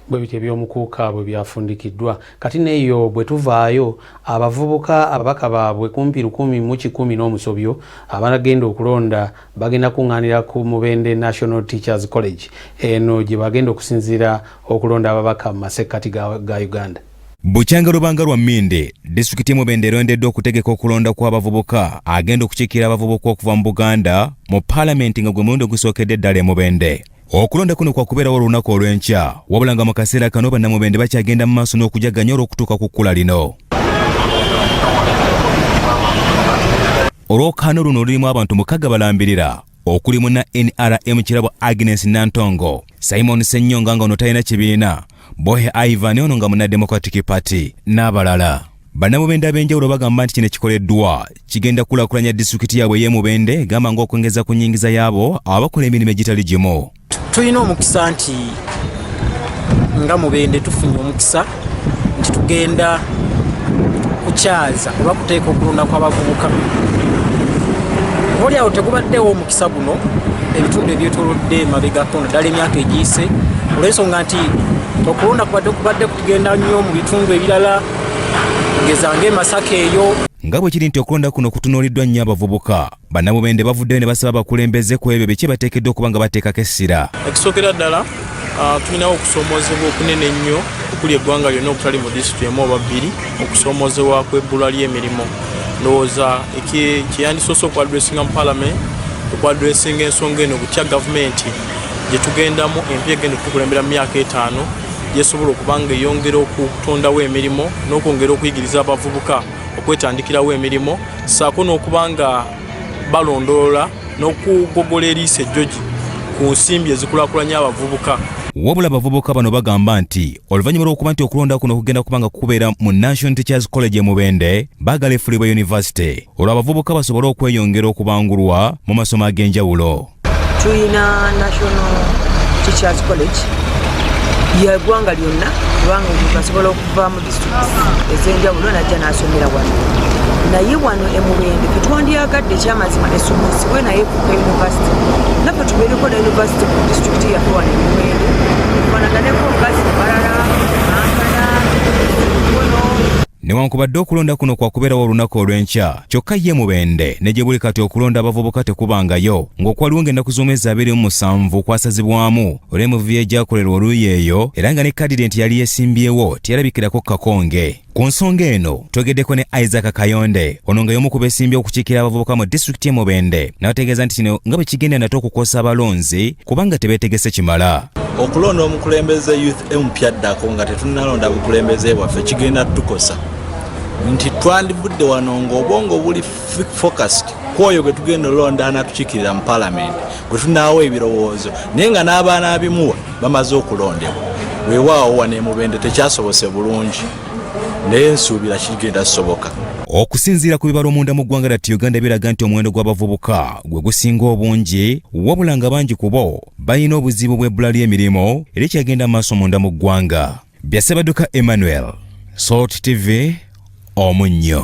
bwe bityo ebyomukuuka bwe byafundikiddwa kati neyo bwe tuvaayo abavubuka ababaka baabwe kumpi lukumi mu kikumi n'omusobyo abanagenda okulonda bagenda kuŋŋaanira ku mubende national teachers college eno gye bagenda okusinziira okulonda ababaka mu masekkati ga uganda Bukyanga lubanga lwa Mmindi, disitulikiti y'e Mubende erondeddwa okutegeka okulonda kw'abavubuka agenda okukiikirira abavubuka okuva mu Buganda mu Palamenti nga gwe mulundi ogusookedde ddala e Mubende. Okulonda kuno kwa kubeerawo olunaku olw'enkya wabula nga mu kaseera kano bannamubende bakyagenda mu maaso n'okujaganya olw'okutuuka ku kkula lino. olwokaano luno lulimu abantu mukaga balambirira okuli muna nrm kirabo agnes nantongo simon senyonga nga ono talina kibiina bohe ivan ono nga muna democratic party n'abalala Bannamubende ab'enjawulo bagamba nti kino ekikoleddwa kigenda kulakulanya disitulikiti yaabwe ey'emubende gamba ng'okwongeza ku nyingiza yaabo abakola emirimu egitali gimu tulina omukisa nti nga mubende tufunye omukisa nti tugenda kukyaza oba kuteeka okulunda kw'abavubuka oli awo tegubaddewo omukisa guno ebitundu ebyetolodde emabegako naddala emyaka egiyise olwensonga nti okulonda kubadde kubadde kugenda nnyo mu bitundu ebirala ngezange masaka eyo nga bwe kiri nti okulonda kuno kutunuuliddwa nnyo abavubuka bannamubende bavuddeyo ne basaba abakulembeze ku ebyo biki bateekeddwa okuba nga bateekako essira ekisookera ddala ah, tulinawo okusoomoozebwa okunene ennyo okuli eggwanga lyonna okutali mu disitulikiti emu oba bbiri okusoomoozebwa kw'ebbula ly'emirimu ndowooza kyeyandisoose okuadressinga mu palamenti okuadressinga ensonga eno butya gavumenti gye tugendamu empya egenda okutukulembera mu myaka etaano gyesobola okuba nga eyongera okutondawo emirimu n'okwongera okuyigiriza abavubuka okwetandikirawo emirimu saako n'okuba nga balondoola n'okugogola eriisa ejjogi ku nsimbi ezikulakulanya abavubuka wabula abavubuka bano bagamba nti oluvannyuma lw'okuba nti okulonda kuno kugenda kubanga kukubeera mu national teachers college emubende baagala efulibwa yunivasite olwo abavubuka basobole okweyongera okubangulwa mu masomo ag'enjawulo tulina national teachers college yegwanga lyonna kubanga omuntu asobola okuva mu district ezenjawulo najja nasomera wano naye wano emubende ketwandyagadde ekyamazima esomesibwe naye kuka university naffe tubeereko na university mu district yaffe wano emubende fanaganeko omukazi mubalala ankana ono Newankubadde okulonda kuno kwakubeerawo olunaku olw'enkya, kyokka ye Mubende ne gye buli kati okulonda abavubuka tekubangayo ng'okwaliwo ng'ennaku z'omwezi abiri mu musanvu kwasazibwamu olw'emivuyo egyakolerwa oluuyi eyo era nga ne kadidenti yali yesimbyewo teyalabikirako Kakonge. Ku nsonga eno twogedeko ne Isaac Kayonde ono nga y'omu ku beesimbye okukiikira abavubuka mu disitulikiti e Mubende n'ategeeza nti kino nga bwe kigenda nate okukosa abalonzi kubanga tebetegese kimala. Okulonda omukulembeze youth empya addako nga tetunalonda bukulembeze bwaffe kigenda tukosa nti twandivudde wano ng'obwongo buli focused kwoyo gwe tugenda olonda anatukikirira mu palamenti gwe tunaawo ebirowoozo naye nga n'abaana abimuwa bamaze okulondebwa weewaawo wano emubende tekyasobose bulungi naye nsuubira kigenda soboka okusinziira ku bibala omunda mu ggwanga lati uganda biraga nti omuwendo gw'abavubuka gwe gusinga obungi wabula nga bangi ku bo balina obuzibu bw'ebbula ly'emirimu erikyagenda mu maaso munda mu ggwanga bya Ssebadduka Emmanuel Salt TV omunnyo